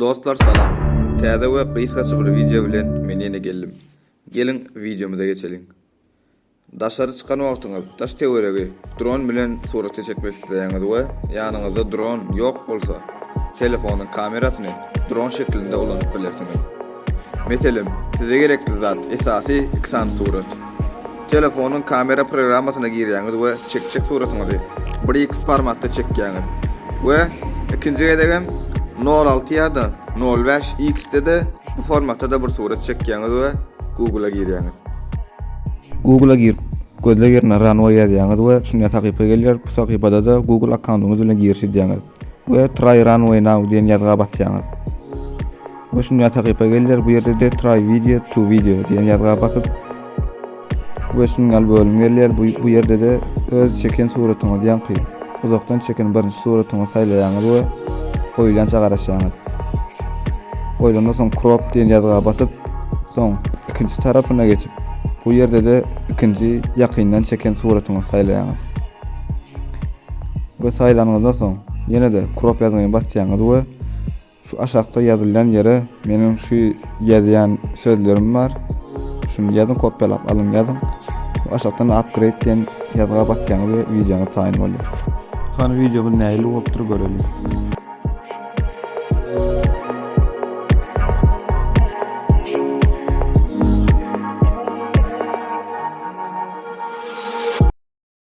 Dostlar salam. Täze we gysgaça bir wideo bilen men ýene geldim. Geliň wideomyza geçeliň. Daşary çykan wagtyňyz daş töweregi dron bilen surata çekmek isleýäňiz we ýanyňyzda dron ýok bolsa, telefonyň kamerasyny dron şeklinde ulanyp bilersiňiz. Meselem, size gerekli zat, esasy iki sany surat. Telefonyň kamera programmasyna girýäňiz we çekjek suratyňyzy bir x formatda çekýäňiz we ikinji gezegem nol alty ýa-da nol bäş x-de-de bu formatda-da bir surat çekýäňiz we Google-a girýäňiz. Google-a girip, gözleg ýerine Runway ýazýaňyz we şunday sahypa gelýär, bu sahypada-da Google akkauntyňyz bilen giriş edýäňiz. we Try Runway Now diýen ýazga basýaňyz. Bu şunda sahypa gelýär. Bu ýerde-de Try Video to Video diýen ýazga basyp we şunda bölüm gelýär. Bu, bu ýerde-de öz çeken suratyňyzy ýaňky uzakdan çeken birinji suratyňyzy saýlaýaňyz we goýulýança garaşýaňyz. Goýlandan soň Crop diýen ýazga basyp, soň ikinji tarapyna geçip, bu ýerde-de ikinji ýakyndan çeken suratyňyzy saýlaýaňyz. we saýlanyňyzdan soň ýene-de krop ýazgyny basýaňyz we şu aşakda ýazylýan ýere meniň şu ýazýan sözlerim bar şuny ýazyň kopýalap alyň ýazyň we aşakdan upgrade diýen ýazga basýaňyz we wideoňyz taýyn bolýar. Hany wideomyz nähili bolupdyr göreliň.